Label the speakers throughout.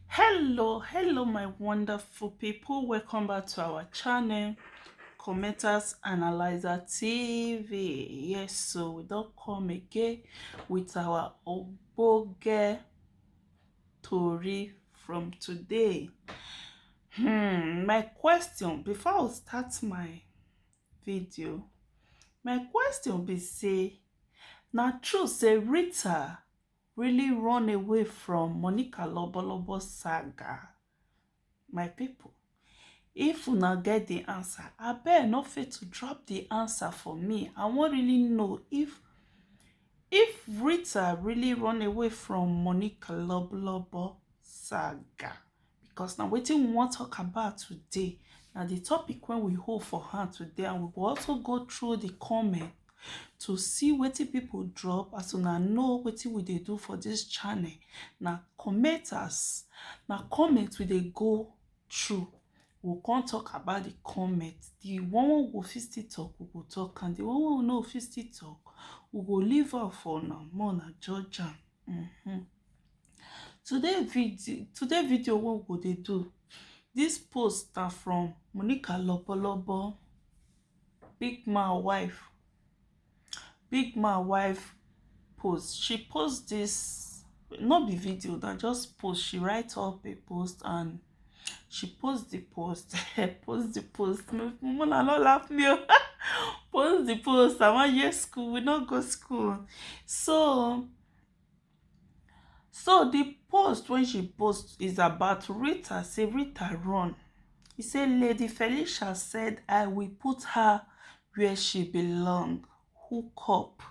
Speaker 1: hello hello my wonderful people welcome back to our channel commenters analyzer tv yes so we don't come again with our oboge tori from today hmm my question before i start my video my question be say na true say rita really run away from Monica Lobolobo saga? My people, if una get the answer, I abeg no fit to drop the answer for me. I wan really know if if Rita really run away from Monica Lobolobo saga. because na wetin we wan talk about today na the topic wey we hold for hand today and we go also go through the comment to see wetin people drop as una know wetin we dey do for this channel na commenters na comment we dey go through we come talk about the comment the one wey we fit still talk we go talk and the one wey we no fit still talk we go leave am for una more una judge am mm -hmm. Today video, today video wey we go dey do, this post na from Monica Lobolobo, big man wife, big man wife post. She post this, no be video, na just post. She write up a post and she post the post, post the post. Mona no laugh me o. Post the post. I wan hear school, we no go school. So So di post wey she post is about Rita say Rita run, e say lady Felicia said I will put her wia she belong hook up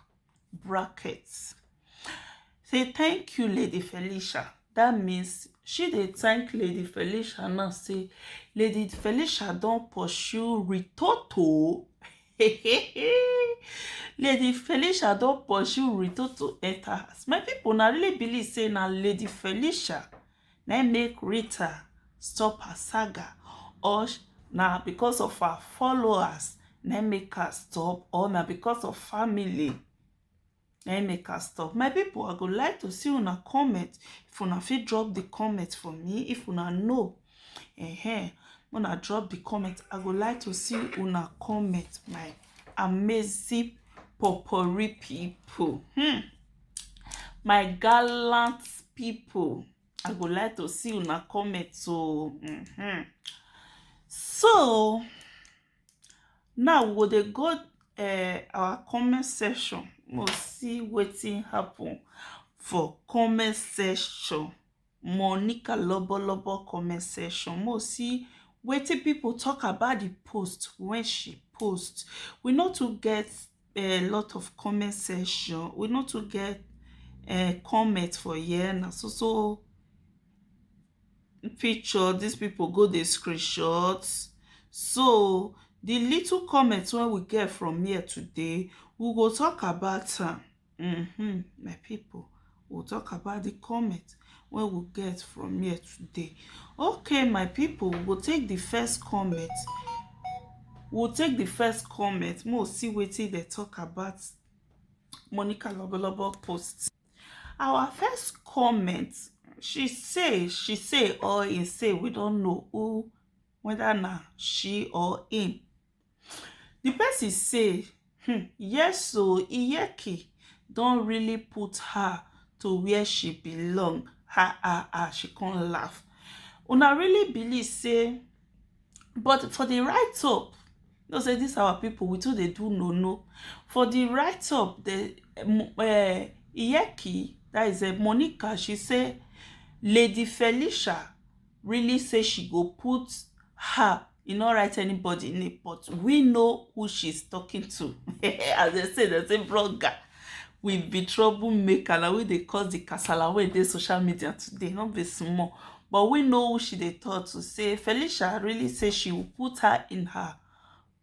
Speaker 1: bracket say thank you lady Felicia dat means she dey thank lady Felicia now say lady Felicia don pursue Ritoto lady felicia don pursue ruto to enter house my people na really believe say na lady felicia na im make rita stop her saga or sh- na because of her followers na im make her stop or na because of family na im make us stop my people i go like to see una comment if una fit drop the comment for me if una know uh-huh. una drop the comment i go like to see una comment my amazing popori people hmm. my gallant people i go like to see una comment so mm-hmm. so Now we go dey go um our comment section make we see wetin happen for comment section. Monica lobolobo comment section. Make we see wetin pipu talk about the post wey she post. We no too get um lot of comment section. We no too get um comment for here. Na so so picture dis pipu go dey screenshot so di little comment wey we get from here today we go talk about am um my pipu we go talk about di comment wey we get from here today okay my pipu we go take di first comment we go take di first comment make we see wetin dem talk about Monica lobolobo post. our first comment she say she say or he say we don't know who whether na she or him the person say hmm, yes so iyeki don really put her to where she belong ha ha ha she can't laugh una really believe say but for the right up You know say this our people we too dey do no no. For the write up, the uh, Iyeki, that is uh, Monica, she say Lady Felicia really say she go put her e no write anybody name but we know who she's talking to as they say they say blogger we be trouble maker na we dey cause the kasala wey dey social media today no be small but we know who she dey talk to say felicia really say she will put her in her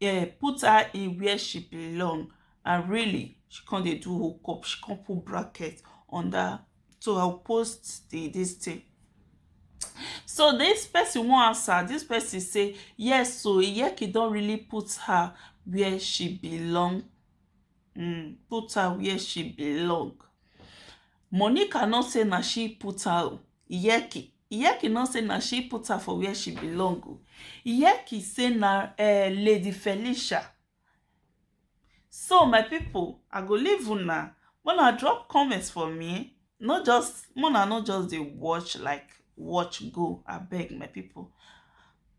Speaker 1: eh, put her in where she belong and really she come dey do hook up she come put bracket under so i will post the this thing so this person wan answer this person say yes so iyeki don really put her where she belong um put her wia she belong. Monica no say na she put her o, Iyeki Iyeki no say na she put her for wia she belong o. Iyeki say na um Lady Felicia. So my pipu, I go leave una make una drop comment for me no just mona no just dey watch like watch go abeg my people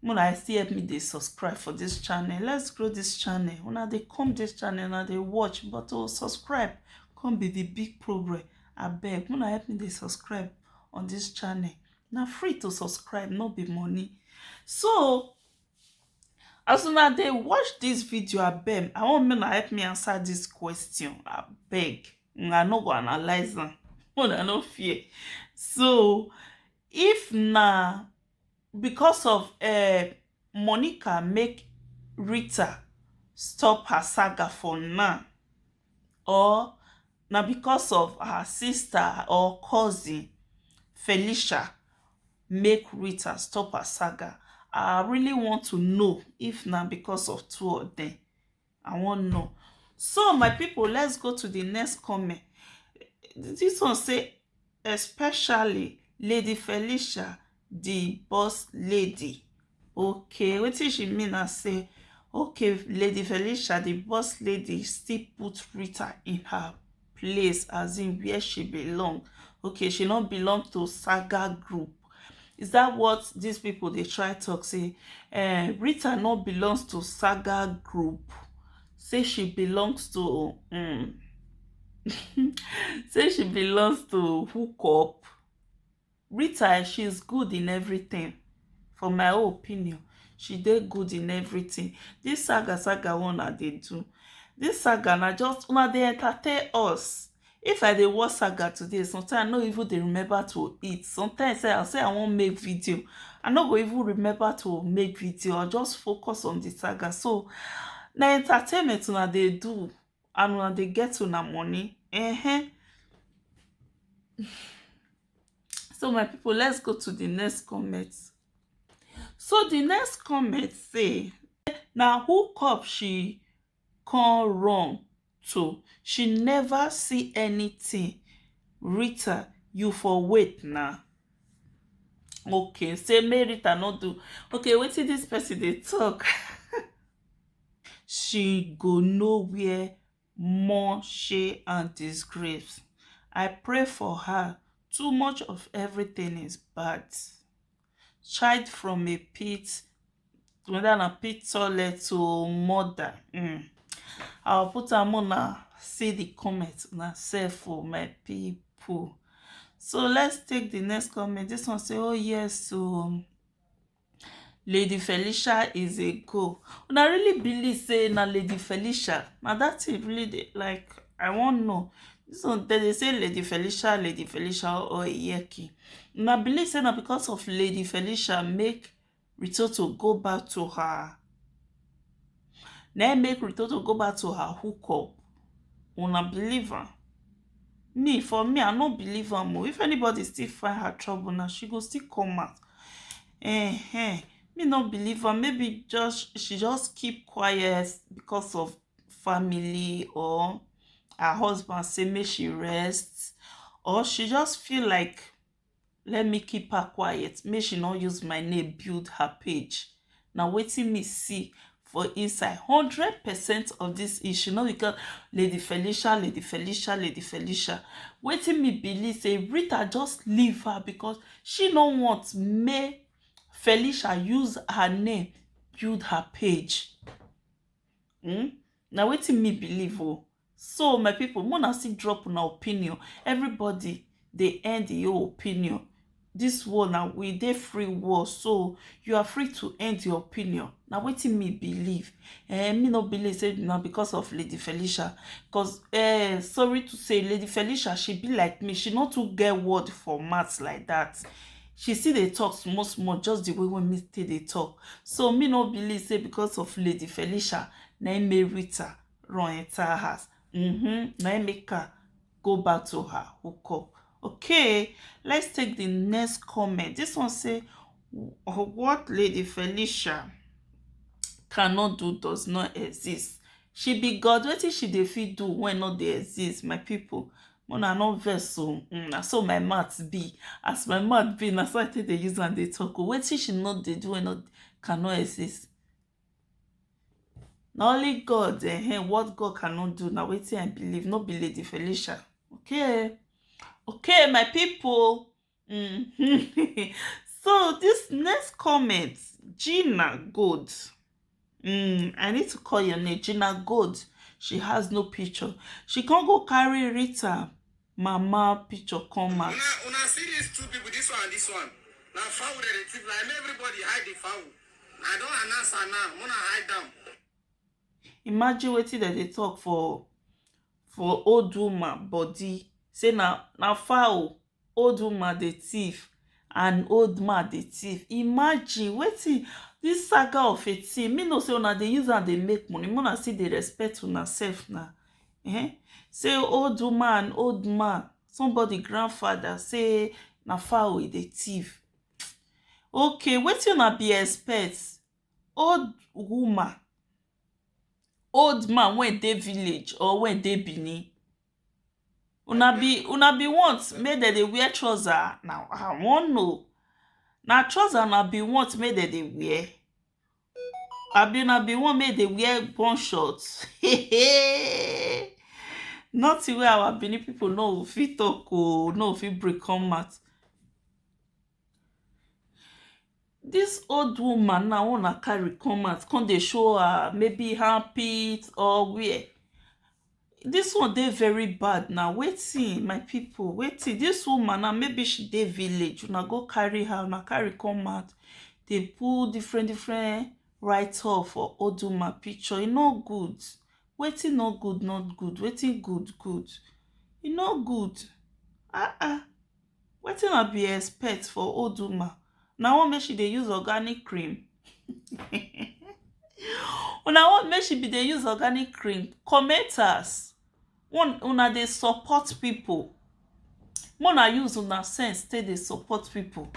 Speaker 1: mona i still help me dey subscribe for this channel let's grow this channel una dey come this channel una dey watch but to oh, subscribe come be the big progress abeg mona help me dey subscribe on this channel na free to subscribe no be money so As una dey watch dis video abeg, I want make una help me answer dis question abeg. Una no go analyze am, una no fear. So, if na because of um Monica make Rita stop her saga for now or na because of her sister or cousin Felicia make Rita stop her saga I really want to know if na because of two of them I wan know so my people let's go to the next comment this one say especially Lady Felicia the boss lady okay wetin she mean na say okay lady felicia the boss lady still put rita in her place as in where she belong okay she no belong to saga group is that what these people dey try talk say uh, rita no belongs to saga group say she belongs to um, say she belongs to hook up Rita eh she is good in everything for my own opinion she dey good in everything this saga saga one na dey do this saga na just una dey entertain us if i dey watch saga today sometimes i no even dey remember to eat sometimes i say i wan make video i no go even remember to make video i just focus on the saga so na entertainment una dey do and una dey get una money eh So my people, let's go to the next comment. So the next comment say, na hookup she come run to. She never see anything. Rita, you for wait now. Okay, say me Rita no do. Okay, wetin this person dey talk? she go know where Mushy and disgrace. I pray for her, too much of everything is bad. Child from a pit, whether na pit toilet to mother. Mm. I'll put am una see the comment una sef for oh, my people. So let's take the next comment. This one say, oh yes, so um, Lady Felicia is a go. And I really believe say na Lady Felicia. Now that it really dey like I won't know. So they, they say Lady Felicia, Lady Felicia or Iyeki. And I believe say na because of Lady Felicia make Ritoto go back to her. Now make Ritoto go back to her hookup. Una believer. Me for me I no believe am oh, if anybody still find her trouble now she go still come out um me no believe am maybe just she just keep quiet because of family or her husband say make she rest or she just feel like let me keep her quiet make she no use my name build her page na wetin me see for inside hundred percent of this issue no because lady felicia lady felicia lady felicia wetin me believe say rita just leave her because she no want make felicia use her name build her page hmm? na wetin me believe o oh. so my people make una still drop una opinion everybody dey end the whole opinion this world na we dey free world so you are free to end your opinion na wetin me believe eh me no believe say na because of lady felicia because eh sorry to say lady felicia she be like me she no too get word for mouth like that she still dey talk small small just the way wey me take dey talk so me no believe say because of lady felicia na im marry rita run enter house mm-hmm. na im make her go back to her hook up okay let's take the next comment this one say what lady felicia cannot do does not exist she be god wetin she dey fit do when no dey exist my people una no vex o mm, na so my mouth be as my mouth be na so i take dey use am dey talk o wetin she no dey do wey no cannot exist na only god um what god cannot do na wetin i believe no be lady felicia okay okay my people mm. so this next comment gina gold mm, i need to call your name gina gold she has no picture she can't go carry rita mama picture come out. Una una see these two people, this one and this one. Na fowl dem dey thief. Like make everybody hide the fowl. I don announce am now. Mona hide am. Imagine wetin dem dey talk for for old woman body. Say na na fowl old woman dey thief and old man dey thief. Imagine wetin this saga of a thing. Me know say una dey use am dey make money. Mona still dey respect una self na. um say old woman old man somebody grandfather say na fowl e dey thief okay wetin una be expect old woman old man wey dey village or wey dey benin una be una be want make dem dey wear trouser na i wan know na trouser una be want make dem dey wear Abi una bin want make dem wear gun shot? Hey! Nothing wey our Benin people no fit talk oh, no fit break come out. This old woman now wey una carry come out come dey show her maybe armpit or where, Dis one dey very bad na wetin my people wetin dis woman now maybe she dey village una go carry her una carry come out dey put different different write off for old woman picture e no good wetin no good no good wetin good good e no good ah ah Wetin I be expect for old woman una want make she dey use organic cream una want make she be dey use organic cream commenters una dey support people make una use una sense take dey support people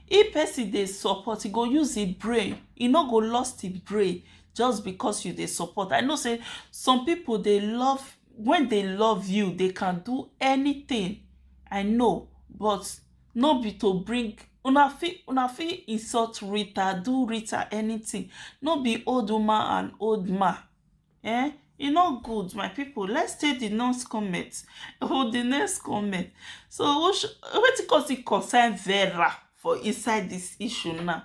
Speaker 1: if person dey support e go use him brain e no go lost him brain just because you dey support I know say some people dey love When they love you they can do anything I know but no be to bring una fit una fit insult Rita do Rita anything no be old woman and old man eh e no good my people let's take the next comment oh the next comment so wetin cause it concern Vera for inside this issue now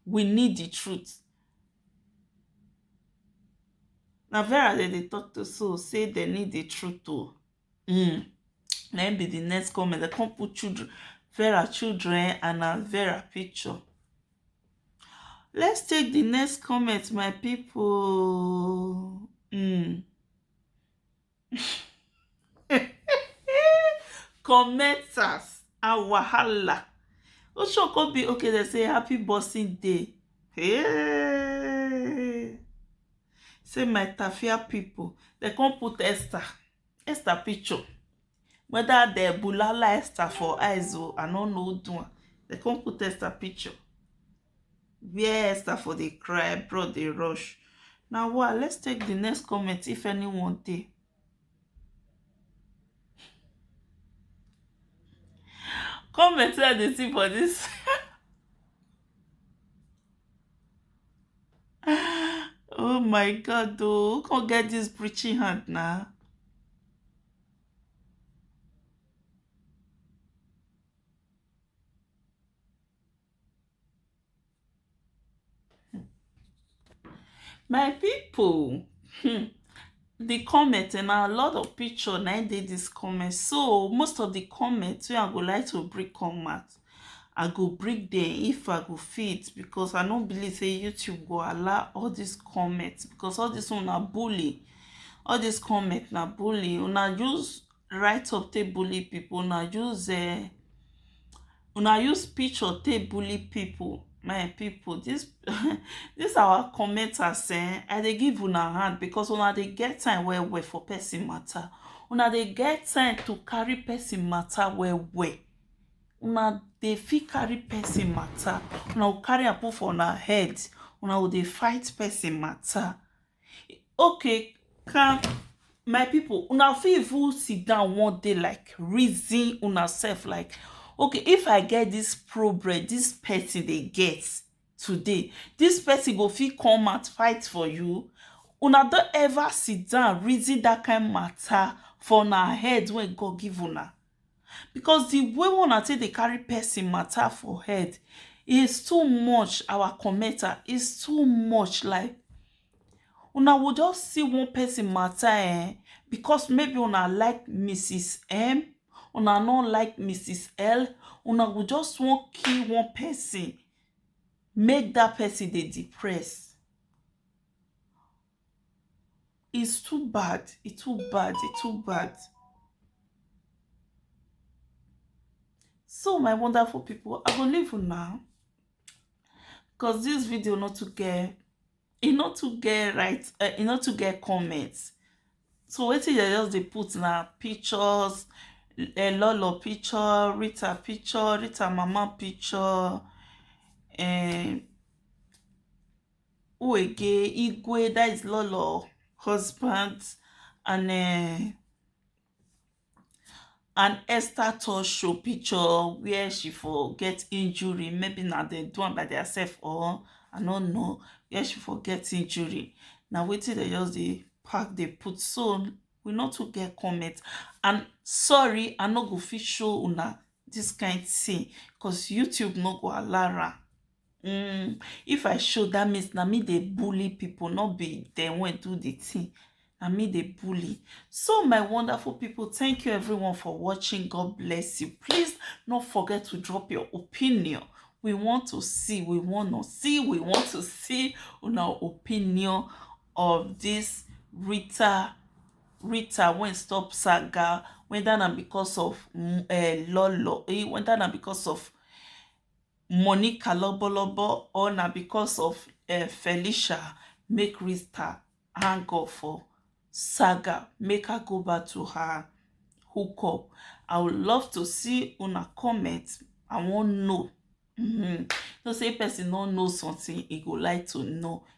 Speaker 1: we need the truth Na Vera dem dey talk to so sey dem need the truth o um na im be the next comment dem come put children Vera children and na Vera picture let's take the next comment my people um commenters and wahala osoko be okay dem say happy boxing day hey. say my tafia people dem come put esther esther picture whether dem bulala esther for eyes o i no know do am dem come put esther picture where esther for dey cry bro dey rush na wa let's take the next comment if anyone dey comment wey i dey see for this oh my god oh who come get this preaching hand na My people, hmm, the comment and a lot of picture na dey this comment. So most of the comments wey I go like to bring come out, I go bring them if I go fit because I no believe say YouTube go allow all these comments because all this one na bully. All these comments na bully. Una just rise up take bully people una use um una use picture take bully people my people this this our commenters eh i dey give una hand because una dey get time well well for person matter una dey get time to carry person matter well well una dey fit carry person matter una go carry am put for una head una go dey fight person matter Okay can my people una fit even sit down one day like reason una self like okay if i get this problem this person dey get today this person go fit come out fight for you una don ever sit down reason that kind matter for una head wey God give una because the way wey una take dey carry person matter for head is too much our commenter is too much like una go just see one person matter um because maybe una like Mrs M una no like Mrs L una go just wan kill one person make that person dey depress It's too bad. It's too bad. It's too bad. So my wonderful people, I will leave you now. Because this video not to get e not to get right uh, e not to get comments. So what wetin they just they put now? pictures, a Lolo picture, Rita picture, Rita mama picture, and eh, Uwege, Igwe, that is Lolo, husband, and uh, an Esther tour show picture where she for get injury. Maybe now they do one by themselves or I don't know where she for get injury. Now wait till they just the pack they put so we not to get comment. And sorry, I not go fit show una this kind thing because YouTube not go allow um if i show that means na me dey bully people no be dem wey do the thing na me dey bully so my wonderful people thank you everyone for watching god bless you please not forget to drop your opinion we want to see we want to see we want to see una opinion of this rita rita wey stop saga whether na because of uh, lolo eh, whether na because of money kalobolobo or na because of um felicia make rita hang up for saga make her go back to her hook up i would love to see una comment i wan know um you know say person no know something e go like to know